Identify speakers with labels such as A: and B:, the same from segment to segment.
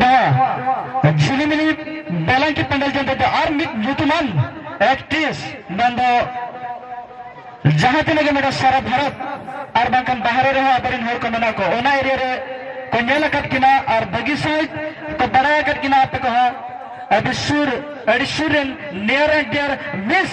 A: ᱱᱚᱣᱟ ᱡᱷᱤᱞᱤᱢᱤᱞᱤ ᱵᱟᱞᱟᱝᱠᱤ ᱯᱮᱱᱰᱮᱞ ᱡᱚᱱᱛᱮ ᱫᱚ ᱟᱨ ᱢᱤᱫ ᱧᱩᱛᱩᱢᱟᱱ ᱮᱠᱴᱨᱮᱥ ᱢᱮᱱ ᱫᱚ ᱡᱟᱦᱟᱸ ᱛᱤᱱᱟᱹᱜ ᱜᱮ ᱢᱮᱱᱟᱜ ᱥᱟᱨᱟ ᱵᱷᱟᱨᱚᱛ ᱟᱨ ᱵᱟᱝᱠᱷᱟᱱ ᱵᱟᱦᱨᱮ ᱨᱮᱦᱚᱸ ᱟᱵᱚᱨᱮᱱ ᱦᱚᱲ ᱠᱚ ᱢᱮᱱᱟᱜ ᱠᱚ ᱚᱱᱟ ᱮᱨᱤᱭᱟ ᱨᱮ ᱠᱚ ᱧᱮᱞ ᱟᱠᱟᱫ ᱠᱤᱱᱟ ᱟᱨ ᱵᱷᱟᱹᱜᱤ ᱥᱟᱺᱦᱤᱡ ᱠᱚ ᱵᱟᱲᱟᱭ ᱟᱠᱟᱫ ᱠᱤᱱᱟ ᱟᱯᱮ ᱠᱚᱦᱚᱸ ᱟᱹᱰᱤ ᱥᱩᱨ ᱟᱹᱰᱤ ᱥᱩᱨ ᱨᱮᱱ ᱱᱤᱭᱟᱨ ᱮᱱᱰ ᱰᱤᱭᱟᱨ ᱢᱤᱥ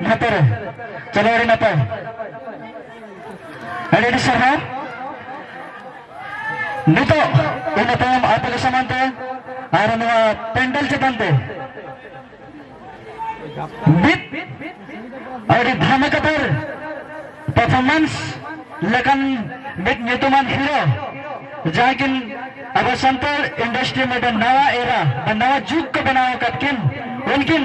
A: ᱱᱟᱯᱟᱭ ᱨᱮ ᱪᱚᱞᱚ ᱟᱹᱰᱤ ᱱᱟᱯᱟᱭ ᱟᱹᱰᱤ ᱟᱹᱰᱤ ᱥᱟᱨᱦᱟᱣ ᱱᱤᱛᱚᱜ ᱤᱱᱟᱹ ᱛᱟᱭᱚᱢ ᱟᱯᱮ ᱠᱚ ᱥᱟᱢᱟᱝ ᱛᱮ ᱟᱨ ᱱᱚᱣᱟ ᱯᱮᱱᱰᱮᱞ ᱪᱮᱛᱟᱱ ᱛᱮ ᱢᱤᱫ ᱟᱹᱰᱤ ᱫᱷᱟᱢᱟᱠᱟᱛᱟᱨ ᱯᱟᱨᱯᱷᱚᱨᱢᱮᱱᱥ ᱞᱮᱠᱟᱱ ᱢᱤᱫ ᱧᱩᱛᱩᱢᱟᱱ ᱦᱤᱨᱳ ᱡᱟᱦᱟᱸ ᱠᱤᱱ ᱟᱵᱚ ᱥᱟᱱᱛᱟᱲ ᱤᱱᱰᱟᱥᱴᱨᱤ ᱢᱤᱫᱴᱮᱱ ᱱᱟᱣᱟ ᱮᱨᱟ ᱱᱟᱣᱟ ᱡᱩᱜᱽ ᱠᱚ ᱵᱮᱱᱟᱣ ᱟᱠᱟᱫ ᱠᱤᱱ ᱩᱱᱠᱤᱱ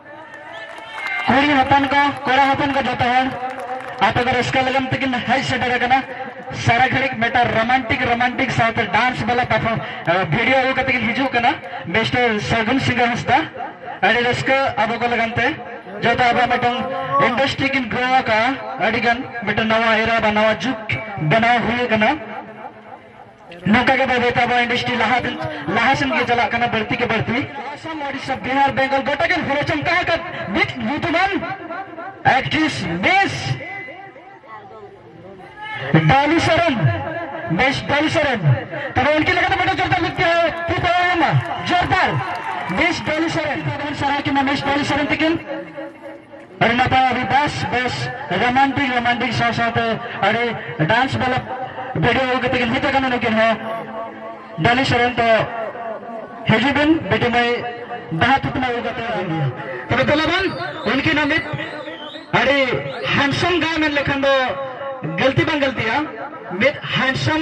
A: ᱠᱩᱲᱤ ᱦᱚᱯᱚᱱ ᱠᱚ ᱠᱚᱲᱟ ᱦᱚᱯᱚᱱ ᱠᱚ ᱡᱚᱛᱚ ᱦᱚᱲ ᱟᱯᱮ ᱫᱚ ᱨᱟᱹᱥᱠᱟᱹ ᱞᱟᱹᱜᱤᱫ ᱛᱮᱠᱤᱱ ᱦᱮᱡ ᱥᱮᱴᱮᱨ ᱟᱠᱟᱱᱟ ᱥᱟᱨᱟ ᱜᱷᱟᱹᱲᱤᱡ ᱢᱤᱫᱴᱟᱝ ᱨᱳᱢᱟᱱᱴᱤᱠ ᱨᱳᱢᱟᱱᱴᱤᱠ ᱥᱟᱶᱛᱮ ᱰᱟᱱᱥ ᱵᱟᱞᱟ ᱯᱟᱨᱯᱷᱚᱨᱢ ᱵᱷᱤᱰᱤᱭᱳ ᱟᱹᱜᱩ ᱠᱟᱛᱮ ᱠᱤᱱ ᱦᱤᱡᱩᱜ ᱠᱟᱱᱟ ᱢᱤᱥᱴᱟᱨ ᱥᱟᱹᱜᱩᱱ ᱥᱤᱝᱜᱟ ᱦᱟᱸᱥᱫᱟ ᱟᱹᱰᱤ ᱨᱟᱹᱥᱠᱟᱹ ᱟᱵᱚ ᱠᱚ ᱞᱟᱹᱜᱤᱫ ᱛᱮ ᱡᱚᱛᱚ ᱟᱵᱚ ᱢᱤᱫᱴᱟᱝ ᱤᱱᱰᱟᱥᱴᱨᱤ ᱠᱤᱱ ᱜᱨᱳ ᱟᱠᱟᱫᱼᱟ ᱟᱹᱰᱤ ᱜᱟᱱ ᱢᱤᱫᱴᱟᱝ ᱱᱟᱣᱟ ᱮᱨᱟ ᱵᱟ ᱱᱟᱣᱟ ᱡᱩᱜᱽ ᱵᱮᱱᱟᱣ ᱦᱩᱭ ᱟᱠᱟᱱᱟ ᱱᱚᱝᱠᱟ ᱜᱮ ᱵᱟᱹᱭ ᱵᱟᱹᱭᱛᱮ ᱟᱵᱚᱣᱟᱜ ᱤᱱᱰᱟᱥᱴᱨᱤ ᱞᱟᱦᱟ ᱞᱟᱦᱟ ᱥᱮᱱ ᱜᱮ ᱪᱟᱞᱟᱜ ᱠᱟᱱᱟ ᱵᱟᱹᱲᱛᱤ ᱜᱮ ᱵᱟᱹᱲᱛᱤ ᱟᱥᱟᱢ ᱳᱰᱤᱥᱟ ᱵᱤᱦᱟᱨ ᱵᱮᱝᱜᱚᱞ ᱜᱚᱴᱟ ᱜᱮ ᱦᱚᱲ ᱪᱚᱢᱠᱟ ᱟᱠᱟᱫ ᱢᱤᱫ ᱧᱩᱛᱩᱢᱟᱱ ᱮᱠᱴᱨᱮᱥ ᱵᱮᱥ ᱰᱟᱞᱤ ᱥᱚᱨᱮᱱ ᱵᱮᱥ ᱰᱟᱞᱤ ᱥᱚᱨᱮᱱ ᱛᱚᱵᱮ ᱩᱱᱠᱤᱱ ᱞᱮᱠᱟᱛᱮ ᱢᱤᱫᱴᱟᱝ ᱡᱳᱨᱫᱟᱨ ᱢᱤᱫ ᱛᱤ ᱯᱟᱲᱟᱣᱮᱱᱟ ᱡᱳᱨᱫᱟᱨ ᱵᱮᱥ ᱰᱟᱞᱤ ᱥᱚᱨᱮᱱ ᱥᱟᱨᱟ ᱠᱤᱱᱟ ᱵᱮᱥ ᱰᱟᱞᱤ ᱥᱚᱨᱮᱱ ᱛᱤᱠᱤᱱ ᱟᱹᱰᱤ ᱱᱟᱯᱟᱭ ᱟᱹᱰᱤ ᱵᱮᱥ ᱵᱮᱥ ᱨᱳᱢᱟᱱᱴᱤᱠ ᱨᱳᱢᱟᱱᱴᱤᱠ ᱥᱟᱶ ᱥᱟᱶᱛᱮ ᱟᱹᱰᱤ ᱰᱟᱱᱥ ᱵᱟᱞᱟ ᱵᱷᱤᱰᱤᱭᱳ ᱟᱹᱜᱩ ᱠᱟᱛᱮ ᱠᱤᱱ ᱦᱮᱡ ᱟᱠᱟᱱᱟ ᱱᱩᱠᱤᱱ ᱦᱚᱸ ᱰᱟᱹᱞᱤ ᱥᱚᱨᱮᱱ ᱛᱚ ᱦᱤᱡᱩᱜ ᱵᱤᱱ ᱵᱤᱴᱤ ᱢᱟᱹᱭ ᱵᱟᱦᱟ ᱛᱩᱛᱢᱟ ᱟᱹᱜᱩ ᱠᱟᱛᱮ ᱛᱚᱵᱮ ᱫᱮᱞᱟ ᱵᱚᱱ ᱩᱱᱠᱤᱱ ᱦᱚᱸ ᱢᱤᱫ ᱟᱹᱰᱤ ᱦᱮᱱᱰᱥᱚᱢ ᱜᱟᱭ ᱢᱮᱱ ᱞᱮᱠᱷᱟᱱ ᱫᱚ ᱜᱟᱹᱞᱛᱤ ᱵᱟᱝ ᱜᱟᱹᱞᱛᱤᱜᱼᱟ ᱢᱤᱫ ᱦᱮᱱᱰᱥᱚᱢ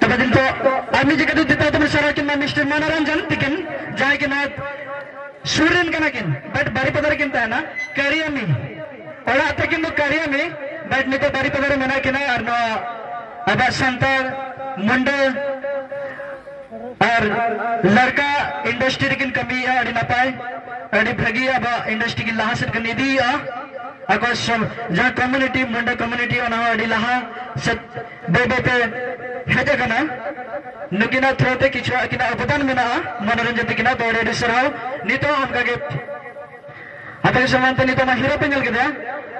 A: ᱛᱚᱵᱮ ᱫᱤᱱ ᱛᱚ ᱟᱨ ᱢᱤᱫ ᱡᱟᱭᱜᱟ ᱫᱚ ᱫᱤᱛᱟ ᱛᱚᱵᱮ ᱥᱟᱨᱟ ᱠᱤᱱ ᱢᱟ ᱢᱤᱥᱴᱟᱨ ᱢᱚᱱᱚᱨᱚᱧᱡᱚᱱ ᱛᱤᱠᱤᱱ ᱡᱟᱦᱟᱸᱭ ᱠᱤᱱ ᱥᱩᱨ ᱨᱮᱱ ᱠᱟᱱᱟ ᱠᱤᱱ ᱵᱟᱴ ᱵᱟᱨᱤᱯᱟᱫᱟ ᱨᱮ ᱠᱤᱱ ᱛᱟᱦᱮᱱᱟ ᱠᱟᱨᱤᱭᱟᱢᱤ ᱚᱲᱟᱜ ᱛᱟᱹᱠᱤᱱ ᱫᱚ ᱠᱟᱨᱤᱭᱟᱢᱤ ᱵᱟᱴ ᱱᱤᱛᱚᱜ ᱵᱟᱨᱤᱯᱟᱫᱟ ᱨᱮ ᱢᱮᱱᱟᱜ ᱠᱤᱱᱟ ᱟᱨ ᱱᱚᱣᱟ ᱟᱵᱚᱣᱟᱜ ᱥᱟᱱᱛᱟᱲ ᱢᱩᱱᱰᱟᱹ ᱟᱨ ᱞᱟᱲᱠᱟ ᱤᱱᱰᱟᱥᱴᱨᱤ ᱨᱮᱠᱤᱱ ᱠᱟᱹᱢᱤᱭᱮᱫᱼᱟ ᱟᱹᱰᱤ ᱱᱟᱯᱟᱭ ᱟᱹᱰᱤ ᱵᱷᱟᱹᱜᱤ ᱟᱵᱚᱣᱟᱜ ᱤᱱᱰᱟᱥᱴᱨᱤ ᱠᱤᱱ ᱞᱟᱦᱟ ᱥᱮᱫ ᱠᱤᱱ ᱤᱫᱤᱭᱮᱫᱼᱟ ᱟᱠᱚ ᱡᱟᱦᱟᱸ ᱠᱚᱢᱤᱩᱱᱤᱴᱤ ᱢᱩᱱᱰᱟᱹ ᱠᱚᱢᱤᱩᱱᱤᱴᱤ ᱚᱱᱟ ᱦᱚᱸ ᱟᱹᱰᱤ ᱞᱟᱦᱟ ᱥᱮᱫ ᱵᱟᱹᱭ ᱵᱟᱹᱭ ᱛᱮ ᱦᱮᱡ ᱟᱠᱟᱱᱟ ᱱᱩᱠᱤᱱᱟᱜ ᱛᱷᱨᱳ ᱛᱮ ᱠᱤᱪᱷᱩ ᱟᱹᱠᱤᱱᱟᱜ ᱚᱵᱚᱫᱟᱱ ᱢᱮᱱᱟᱜᱼᱟ ᱢᱚᱱᱳᱨᱚᱧᱡᱚᱱ ᱛᱟᱹᱠᱤᱱᱟᱜ ᱫᱚ ᱟᱹᱰᱤ ᱟᱹᱰᱤ ᱥᱟᱨᱦᱟᱣ ᱱᱤᱛᱚᱜ ᱦᱚᱸ ᱚᱱᱠᱟᱜᱮ ᱟᱯᱮ ᱠᱚ ᱥᱟᱢᱟᱝ ᱛᱮ ᱱᱤᱛᱚᱜ ᱢᱟ ᱦᱤᱨᱳ ᱯᱮ ᱧᱮᱞ ᱠᱮᱫᱮᱭᱟ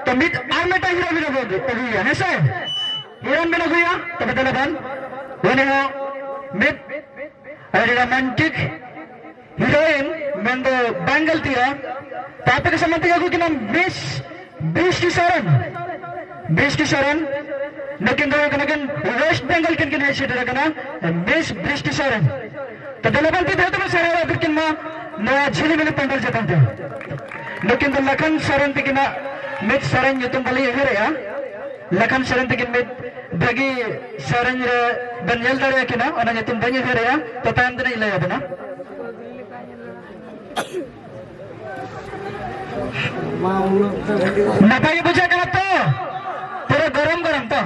A: ᱛᱚ ᱢᱤᱫ ᱟᱨ ᱢᱤᱫᱴᱟᱝ ᱦᱤᱨᱳ ᱵᱤᱱ ᱟᱹᱜᱩᱭᱟ ᱦᱮᱸ ᱥᱮ ᱦᱤᱨᱳᱭᱤᱱ ᱵᱤᱱ ᱟᱹᱜᱩᱭᱟ ᱛᱚᱵᱮ ᱫᱮᱞᱟ ᱵᱟᱱ ᱩᱱᱤ ᱦᱚᱸ ᱢᱤᱫ ᱟᱹᱰᱤ ᱨᱳᱢᱟᱱᱴᱤᱠ ᱦᱤᱨᱳᱭᱤᱱ ᱢᱮᱱᱫᱚ ᱵᱟᱝᱜᱟᱞ ᱛᱤᱨᱟ ᱛᱟᱯᱮ ᱠᱚ ᱥᱟᱢᱟᱱ ᱛᱮᱜᱮ ᱟᱹᱜᱩ ᱠᱤᱱᱟ ᱵᱨᱤᱥ ᱵᱨᱤᱥ ᱠᱤᱥᱚᱨᱚᱱ ᱵᱨᱤᱥ ᱠᱤᱥᱚᱨᱚᱱ ᱱᱩᱠᱤᱱ ᱫᱚ ᱠᱟᱱᱟ ᱠᱤᱱ ᱣᱮᱥᱴ ᱵᱮᱝᱜᱚᱞ ᱠᱤᱱ ᱠᱤᱱ ᱦᱮᱡ ᱥᱮᱴᱮᱨ ᱠᱟᱱᱟ ᱵᱨᱤᱥ ᱵᱨᱤᱥ ᱠᱤᱥᱚᱨᱚᱱ ᱛᱚ ᱫᱮᱞᱟᱵᱟᱱ ᱛᱤ ᱫᱷᱟᱹᱛᱩ ᱥᱟᱨᱟ ᱟᱫᱤ ᱠᱤᱱ ᱢᱟ ᱱᱚᱣᱟ ᱡᱷᱤᱞᱤ ᱢᱤᱞᱤ ᱯᱟᱱᱰᱟᱞ ᱪᱮᱛᱟᱱ ᱛᱮ ᱱᱩᱠᱤᱱ ᱫᱚ ᱞᱟᱠᱷᱟᱱ ᱥᱚᱨᱮᱱ ᱛᱤᱠᱤᱱᱟ ᱢᱤᱫ ᱥᱚᱨᱮᱱ ᱧᱩᱛᱩᱢ ᱵᱟᱹᱞᱤᱧ ᱩᱭᱦᱟᱹᱨᱮᱜᱼᱟ ᱞᱟᱠᱷᱟᱱ ᱥᱚᱨᱮᱱ ᱛᱤᱠᱤᱱ ᱢᱤᱫ ᱵᱷᱟᱹᱜᱤ ᱥᱮᱨᱮᱧ ᱨᱮ ᱵᱮᱱ ᱧᱮᱞ ᱫᱟᱲᱮᱭᱟ ᱠᱤᱱᱟ ᱚᱱᱟ ᱧᱩᱛᱩᱢ ᱵᱟᱹᱧ ᱩᱭᱦᱟᱹᱨᱮᱜᱼᱟ ᱛᱚ ᱛᱟᱭᱚᱢ ᱛᱮ ᱞᱟᱹᱭ ᱟᱵᱮᱱᱟ ᱱᱟᱯᱟᱭ ᱜᱮ ᱵᱩᱡᱷᱟᱹᱜ ᱠᱟᱱᱟ ᱛᱚ ᱯᱩᱨᱟᱹ ᱜᱚᱨᱚᱢ ᱜᱚᱨᱚᱢ ᱛᱚ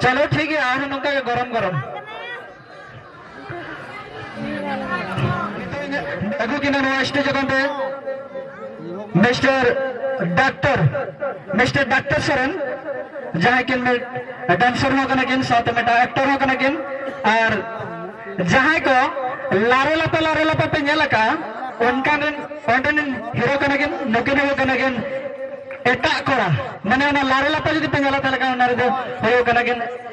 A: ᱪᱚᱞᱚ ᱴᱷᱤᱠ ᱜᱮᱭᱟ ᱟᱨᱦᱚᱸ ᱱᱚᱝᱠᱟ ᱜᱮ ᱜᱚᱨᱚᱢ ᱜᱚᱨᱚᱢ ᱢᱤᱥᱴᱟᱨ ᱰᱟᱠᱴᱚᱨ ᱢᱤᱥᱴᱟᱨ ᱰᱟᱠᱴᱚᱨ ᱥᱚᱨᱮᱱ ᱡᱟᱦᱟᱸᱭ ᱠᱤᱱ ᱰᱟᱱᱥᱚᱨ ᱦᱚᱸ ᱠᱟᱱᱟ ᱠᱤᱱ ᱥᱟᱶᱛᱮ ᱢᱤᱫᱴᱟᱝ ᱮᱠᱴᱚᱨ ᱦᱚᱸ ᱠᱟᱱᱟ ᱠᱤᱱ ᱟᱨ ᱡᱟᱦᱟᱸᱭ ᱠᱚ ᱞᱟᱨᱮ ᱞᱟᱯᱮ ᱞᱟᱨᱮ ᱞᱟᱯᱮ ᱯᱮ ᱧᱮᱞ ᱟᱠᱟᱫᱼᱟ ᱚᱱᱠᱟᱱ ᱨᱮᱱ ᱚᱸᱰᱮᱱ ᱦᱤᱨᱳ ᱠᱟᱱᱟ ᱠᱤᱱ ᱱᱩᱠᱤᱱ ᱦᱤᱨᱳ ᱠᱟᱱᱟ ᱠᱤᱱ ᱮᱴᱟᱜ ᱠᱚᱲᱟ ᱢᱟᱱᱮ ᱚᱱᱟ ᱞᱟᱨᱮ ᱞᱟᱯᱮ ᱡᱩᱫᱤ ᱯᱮ ᱧᱮᱞᱟ ᱛᱟᱦᱚᱞᱮ ᱠᱷᱟᱱ ᱚᱱᱟ ᱨᱮᱫᱚ ᱦᱤᱨᱳ ᱠᱟᱱᱟ ᱠᱤᱱ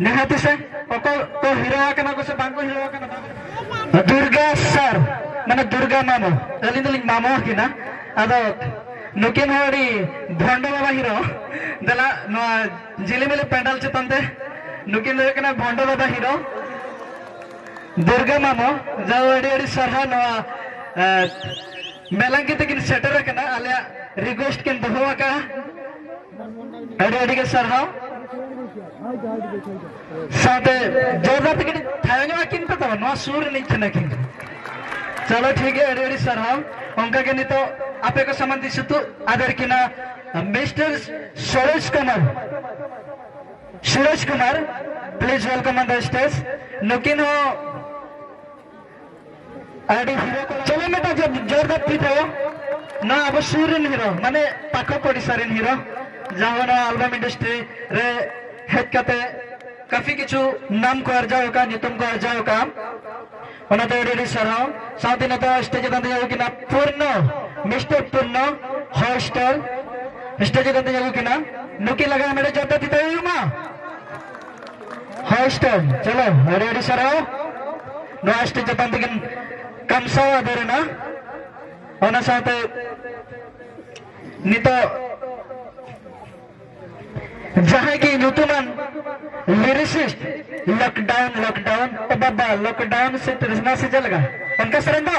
A: ᱱᱤᱦᱟᱹᱛ ᱥᱮ ᱚᱠᱚᱭ ᱠᱚ ᱦᱤᱨᱟᱹᱣ ᱟᱠᱟᱱᱟ ᱠᱚ ᱥᱮ ᱵᱟᱝ ᱠᱚ ᱦᱤᱨᱟᱹᱣ ᱟᱠᱟᱱᱟ ᱫᱩᱨᱜᱟ ᱥᱟᱨ ᱢᱟᱱᱮ ᱫᱩᱨᱜᱟ ᱢᱟᱢᱚ ᱟᱹᱞᱤᱧ ᱫᱚᱞᱤᱧ ᱢᱟᱢᱚ ᱟᱹᱠᱤᱱᱟ ᱟᱫᱚ ᱱᱩᱠᱤᱱ ᱦᱚᱸ ᱟᱹᱰᱤ ᱵᱷᱚᱱᱰᱚ ᱵᱟᱵᱟ ᱦᱤᱨᱳ ᱫᱮᱞᱟ ᱱᱚᱣᱟ ᱡᱤᱞᱤᱢᱤᱞᱤ ᱯᱮᱱᱰᱟᱞ ᱪᱮᱛᱟᱱ ᱛᱮ ᱱᱩᱠᱤᱱ ᱫᱚ ᱦᱩᱭᱩᱜ ᱠᱟᱱᱟ ᱵᱷᱚᱱᱰᱚ ᱵᱟᱵᱟ ᱦᱤᱨᱳ ᱫᱩᱨᱜᱟ ᱢᱟᱢᱚ ᱡᱟᱣ ᱟᱹᱰᱤ ᱟᱹᱰᱤ ᱥᱟᱨᱦᱟᱣ ᱱᱚᱣᱟ ᱢᱮᱞᱟᱝᱠᱤ ᱛᱮᱠᱤᱱ ᱥᱮᱴᱮᱨ ᱟᱠᱟᱱᱟ ᱟᱞᱮᱭᱟᱜ ᱨᱤᱠᱣᱮᱥᱴ ᱠᱤᱱ ᱫᱚᱦᱚ ᱟᱠᱟᱫᱼᱟ ᱟᱹᱰᱤ ᱟᱹᱰᱤ ᱜᱮ ᱥᱟᱨᱦᱟᱣ ᱥᱟᱶᱛᱮ ᱡᱳᱨᱫᱟᱨ ᱛᱮ ᱠᱟᱹᱴᱤᱡ ᱛᱟᱭᱚᱢ ᱧᱚᱜ ᱟᱹᱠᱤᱱ ᱯᱮ ᱛᱟᱵᱚᱱ ᱱᱚᱣᱟ ᱥᱩᱨ ᱨᱤᱱᱤᱡ ᱠᱟᱱᱟᱠᱤᱱ ᱪᱚᱞᱚ ᱴᱷᱤᱠ ᱜᱮᱭᱟ ᱟᱹᱰᱤ ᱟᱹᱰᱤ ᱥᱟᱨᱦᱟᱣ ᱚᱱᱠᱟ ᱜᱮ ᱱᱤᱛᱚᱜ ᱟᱯᱮ ᱠᱚ ᱥᱟᱢᱟᱱ ᱫᱤᱥ ᱩᱛᱩᱜ ᱟᱫᱮᱨ ᱠᱤᱱᱟ mister Suresh Kumar Suresh Kumar please welcome on the stage ᱱᱩᱠᱤᱱ ᱦᱚᱸ ᱟᱹᱰᱤ ᱦᱤᱨᱳ ᱠᱚ ᱪᱚᱞᱚ ᱢᱤᱫᱴᱟᱝ ᱡᱚ- ᱡᱳᱨᱫᱟᱨ ᱛᱤ ᱛᱟᱭᱚᱢ ᱱᱚᱣᱟ ᱟᱵᱚ ᱥᱩᱨ ᱨᱮᱱ ᱦᱤᱨᱳ ᱢᱟᱱᱮ ᱯᱟᱠᱚ ᱯᱚᱲᱤᱥᱟ ᱨᱮᱱ ᱦᱤᱨᱳ ᱡᱟᱦᱟᱸ ᱱᱚᱣᱟ ᱟᱞᱵᱟᱢ ᱤᱱᱰᱟᱥᱴᱨᱤ ᱨᱮ ᱦᱮᱡ ᱠᱟᱛᱮ ᱠᱟᱹᱯᱷᱤ ᱠᱤᱪᱷᱩ ᱱᱟᱢ ᱠᱚ ᱟᱨᱡᱟᱣ ᱟᱠᱟᱫ ᱧᱩᱛᱩᱢ ᱠᱚ ᱟᱨᱡᱟᱣ ᱟᱠᱟᱫ ᱚᱱᱟᱛᱮ ᱟᱹᱰᱤ ᱟᱹᱰᱤ ᱥᱟᱨᱦᱟᱣ ᱥᱟᱶᱛᱮ ᱱᱤᱛᱚᱜ ᱥᱴᱮᱡ ᱪᱮᱛᱟᱱ ᱛᱮᱧ ᱟᱹᱜᱩ ᱠᱤᱱᱟ ᱯᱩᱨᱱᱚ ᱢᱤᱥᱴᱟᱨ ᱯᱩᱨᱱᱚ ᱦᱚᱭ ᱥᱴᱟᱨ ᱥᱴᱮᱡ ᱪᱮᱛᱟᱱ ᱛᱮᱧ ᱟᱹᱜᱩ ᱠᱤᱱᱟ ᱱᱩᱠᱤᱱ ᱞᱟᱜᱟᱣ ᱢᱮᱲᱮ ᱡᱚᱨᱫᱟᱨ ᱛᱤ ᱛᱟᱭᱚᱢ ᱢᱟ ᱦᱟᱭᱮᱥᱴ ᱪᱚᱞᱚ ᱟᱹᱰᱤ ᱟᱹᱰᱤ ᱥᱟᱨᱦᱟᱣ ᱱᱚᱣᱟ ᱥᱴᱮᱡ ᱪᱮᱛᱟᱱ ᱛᱮᱜᱮ ᱠᱟᱢᱥᱟᱣ ᱟᱫᱮᱨᱮᱱᱟ ᱚᱱᱟ ᱥᱟᱶᱛᱮ ᱱᱤᱛᱚᱜ ᱡᱟᱦᱟᱸᱭ ᱜᱮ ᱧᱩᱛᱩᱢᱟᱱ ᱞᱤᱨᱤᱥᱤᱥᱴ ᱞᱚᱠᱰᱟᱣᱩᱱ ᱞᱚᱠᱰᱟᱣᱩᱱ ᱵᱟᱵᱟ ᱞᱚᱠᱰᱟᱣᱩᱱ ᱥᱮ ᱛᱨᱤᱥᱱᱟ ᱥᱮ ᱪᱮᱫ ᱞᱮᱠᱟ ᱚᱱᱠᱟ ᱥᱮᱨᱮᱧ ᱫᱚ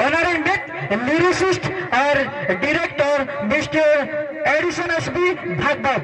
A: ᱚᱱᱟ ᱨᱮᱱ ᱢᱤᱫ ᱞᱤᱨᱤᱥᱤᱥᱴ ᱟᱨ director mister Edison S B Bhagbat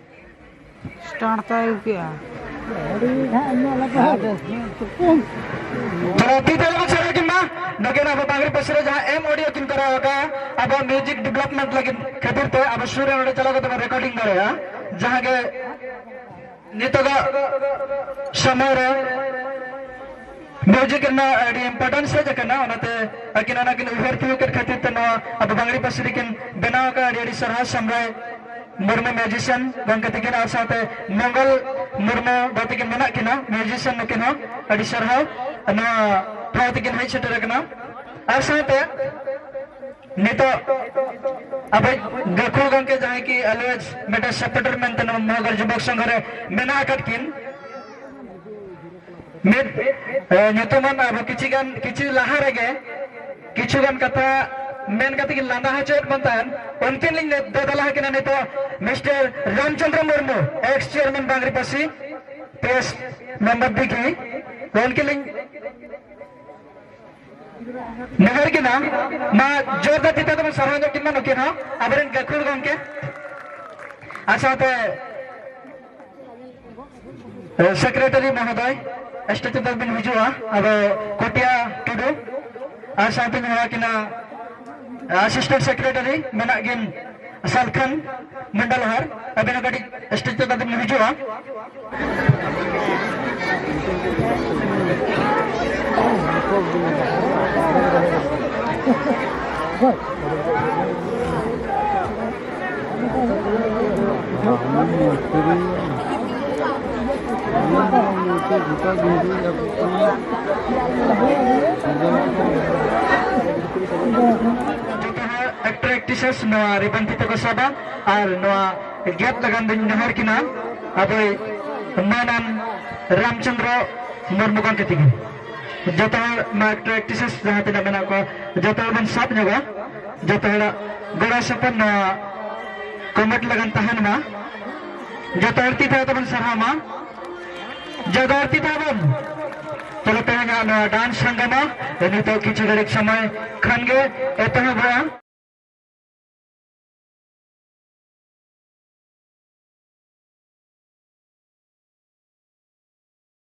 A: start ᱛᱟᱭ ᱟᱹᱜᱩ ᱠᱮᱜᱼᱟ ᱵᱤᱫᱮᱞ ᱠᱚ ᱪᱮᱫ ᱞᱟᱹᱜᱤᱫ ᱢᱟ ᱱᱚᱜᱮ ᱟᱵᱚ ᱵᱟᱝᱨᱤ ᱯᱟᱹᱨᱥᱤ ᱨᱮ ᱡᱟᱦᱟᱸ ᱮᱢ ᱚᱰᱤᱭᱳ ᱠᱤᱱ ᱠᱚᱨᱟᱣ ᱟᱠᱟᱫᱼᱟ ᱟᱵᱚ ᱢᱤᱭᱩᱡᱤᱠ ᱰᱮᱵᱷᱞᱚᱯᱢᱮᱱᱴ ᱞᱟᱹᱜᱤᱫ ᱠᱷᱟᱹᱛᱤᱨ ᱛᱮ ᱟᱵᱚ ᱥᱩᱨ ᱨᱮ ᱱᱚᱰᱮ ᱪᱟᱞᱟᱣ ᱠᱟᱛᱮ ᱵᱚᱱ ᱨᱮᱠᱚᱨᱰᱤᱝ ᱫᱟᱲᱮᱭᱟᱜᱼᱟ ᱡᱟᱦᱟᱸ ᱜᱮ ᱱᱤᱛᱚᱜᱟᱜ ᱥᱚᱢᱚᱭ ᱨᱮ ᱢᱤᱭᱩᱡᱤᱠ ᱨᱮᱱᱟᱜ ᱟᱹᱰᱤ ᱤᱢᱯᱚᱨᱴᱮᱱᱥ ᱦᱮᱡ ᱟᱠᱟᱱᱟ ᱚᱱᱟᱛᱮ ᱟᱹᱠᱤᱱ ᱚᱱᱟ ᱠᱤᱱ ᱩᱭᱦᱟᱹᱨ ᱛᱤᱭᱳᱜ ᱠᱮᱫ ᱠᱷᱟᱹᱛᱤᱨ ᱛᱮ ᱱᱚᱣᱟ ᱟᱵᱚ ᱵᱟᱝᱞᱤ ᱯᱟᱹᱨᱥᱤ ᱨᱮᱠᱤᱱ ᱵᱮᱱᱟᱣ ᱟᱠᱟᱫ ᱟᱹᱰᱤ ᱟᱹᱰᱤ ᱥᱟᱨᱦᱟᱣ ᱥᱟᱢᱨᱟᱭ ᱢᱩᱨᱢᱩ ᱢᱤᱭᱩᱡᱤᱥᱤᱭᱟᱱ ᱜᱚᱢᱠᱮ ᱛᱟᱹᱠᱤᱱ ᱟᱨ ᱥᱟᱶᱛᱮ ᱢᱚᱝᱜᱚᱞ ᱢᱩᱨᱢᱩ ᱫᱚ ᱛᱟᱹᱠᱤᱱ ᱢᱮᱱᱟᱜ ᱠᱤᱱᱟ ᱢᱤᱭᱩᱡᱤᱥᱤᱭᱟᱱ ᱱᱩᱠᱤᱱ ᱦᱚᱸ ᱟᱹᱰᱤ ᱥᱟᱨᱦᱟᱣ ᱱᱚᱣᱟ ᱴᱷᱟᱶ ᱛᱮᱠᱤᱱ ᱦᱮᱡ ᱥᱮᱴᱮᱨ ᱟᱠᱟᱱᱟ ᱟᱨ ᱥᱟᱶᱛᱮ ᱱᱤᱛᱚᱜ ᱟᱵᱚ ᱜᱟᱹᱠᱷᱩᱲ ᱜᱚᱢᱠᱮ ᱡᱟᱦᱟᱸᱭ ᱠᱤ ᱟᱞᱣᱮᱡᱽ ᱢᱤᱫᱴᱮᱱ ᱥᱮᱯᱴᱮᱴᱚᱨ ᱢᱮᱱᱛᱮ ᱱᱚᱣᱟ ᱢᱚᱦᱟᱜᱚᱨ ᱡᱩᱵᱚᱠ ᱥᱚᱝᱜᱷᱚ ᱨᱮ ᱢᱮᱱᱟᱜ ᱟᱠᱟᱫ ᱠᱤᱱ ᱢᱤᱫ ᱧᱩᱛᱩᱢᱟᱱ ᱟᱵᱚ ᱠᱤᱪᱷᱤ ᱜᱟᱱ ᱠᱤᱪᱷᱩ ᱞᱟᱦᱟ ᱨᱮᱜᱮ ᱠᱤᱪᱷᱩ ᱜᱟᱱ ᱠᱟᱛᱷᱟ ᱢᱮᱱ ᱠᱟᱛᱮ ᱜᱮ ᱞᱟᱸᱫᱟ ᱦᱚᱪᱚᱭᱮᱫ ᱵᱚᱱ ᱛᱟᱦᱮᱱ ᱩᱱᱠᱤᱱ ᱞᱤᱧ ᱫᱮᱫᱟᱞᱟ ᱟᱠᱤᱱᱟ ᱱᱤᱛᱚᱜ mister Ramchandra Murmu ex chairman ᱵᱟᱝᱨᱤ ᱯᱟᱹᱥᱤ ᱯᱮᱥ ᱢᱮᱢᱵᱟᱨ ᱫᱤᱜᱤ ᱩᱱᱠᱤᱱ ᱞᱤᱧ ᱱᱮᱦᱚᱨ ᱠᱤᱱᱟ ᱢᱟ ᱡᱳᱨᱫᱟᱨ ᱪᱤᱛᱟᱹ ᱛᱮᱵᱚᱱ ᱥᱟᱨᱦᱟᱣ ᱧᱚᱜ ᱠᱤᱱ ᱢᱟ ᱱᱩᱠᱤᱱ ᱦᱚᱸ ᱟᱵᱚᱨᱮᱱ ᱜᱟᱹᱠᱷᱩᱲ ᱜᱚᱢᱠᱮ ᱟᱨ ᱥᱟᱶᱛᱮ ᱥᱮᱠᱨᱮᱴᱟᱨᱤ ᱢᱚᱦᱚᱫᱚᱭ ᱥᱴᱮᱪᱩ ᱫᱚ ᱵᱤᱱ ᱦᱤᱡᱩᱜᱼᱟ ᱟᱫᱚ ᱠᱚᱴᱤᱭᱟ ᱴᱩᱰᱩ ᱟᱨ ᱥᱟᱶᱛᱮ ᱢᱮᱱᱟᱜ ᱠᱤᱱᱟ ᱟᱥᱤᱥᱴᱮᱱᱴ ᱥᱮᱠᱨᱮᱴᱟᱨᱤ ᱢᱮᱱᱟᱜ ᱠᱤᱱ ᱥᱟᱞᱠᱷᱟᱱ ᱢᱚᱱᱰᱚᱞ ᱦᱟᱨ ᱟᱵᱤᱱ ᱠᱟᱹᱴᱤᱡ ᱥᱴᱮᱪᱩ ᱫᱚ ᱵᱤᱱ ᱦᱤᱡᱩᱜᱼᱟ Good. ᱯᱨᱮᱠᱴᱤᱥᱮᱥ ᱱᱚᱣᱟ ᱨᱤᱵᱚᱱ ᱛᱤᱛᱮ ᱠᱚ ᱥᱟᱵᱟ ᱟᱨ ᱱᱚᱣᱟ ᱜᱮᱯ ᱞᱟᱜᱟᱱ ᱫᱚᱧ ᱱᱮᱦᱚᱨ ᱠᱤᱱᱟ ᱟᱵᱚᱭ ᱢᱟᱱᱟᱱ ᱨᱟᱢᱪᱚᱱᱫᱨᱚ ᱢᱩᱨᱢᱩ ᱜᱚᱢᱠᱮ ᱛᱤᱜᱤ ᱡᱚᱛᱚ ᱦᱚᱲ ᱱᱚᱣᱟ ᱮᱠᱴᱚᱨ ᱮᱠᱴᱨᱮᱥᱮᱥ ᱡᱟᱦᱟᱸ ᱛᱤᱱᱟᱹᱜ ᱢᱮᱱᱟᱜ ᱠᱚᱣᱟ ᱡᱚᱛᱚ ᱦᱚᱲ ᱵᱚᱱ ᱥᱟᱵ ᱧᱚᱜᱟ ᱡᱚᱛᱚ ᱦᱚᱲᱟᱜ ᱜᱚᱲᱚ ᱥᱚᱯᱚᱦᱚᱫ ᱱᱚᱣᱟ ᱠᱚᱢᱮᱴ ᱞᱟᱜᱟᱱ ᱛᱟᱦᱮᱱ ᱢᱟ ᱡᱚᱛᱚ ᱦᱚᱲ ᱛᱤ ᱛᱷᱟᱭᱚ ᱛᱮᱵᱚᱱ ᱥᱟᱨᱦᱟᱣ ᱢᱟ ᱡᱚᱛᱚ ᱦᱚᱲ ᱛᱤ ᱛᱷᱟᱭᱚ ᱵᱚᱱ ᱛᱟᱦᱞᱮ ᱛᱮᱦᱮᱧᱟᱜ ᱱᱚᱣᱟ ᱰᱟᱱᱥ ᱦᱟᱝᱜᱟᱢᱟ ᱱᱤᱛᱚᱜ ᱠᱤᱪᱷᱩ ᱜᱷᱟᱹᱲᱤᱡ ᱥᱚᱢᱚᱭ ᱠᱷᱟᱱ ᱜᱮ ᱮᱛᱚᱦᱚᱵᱚᱜᱼᱟ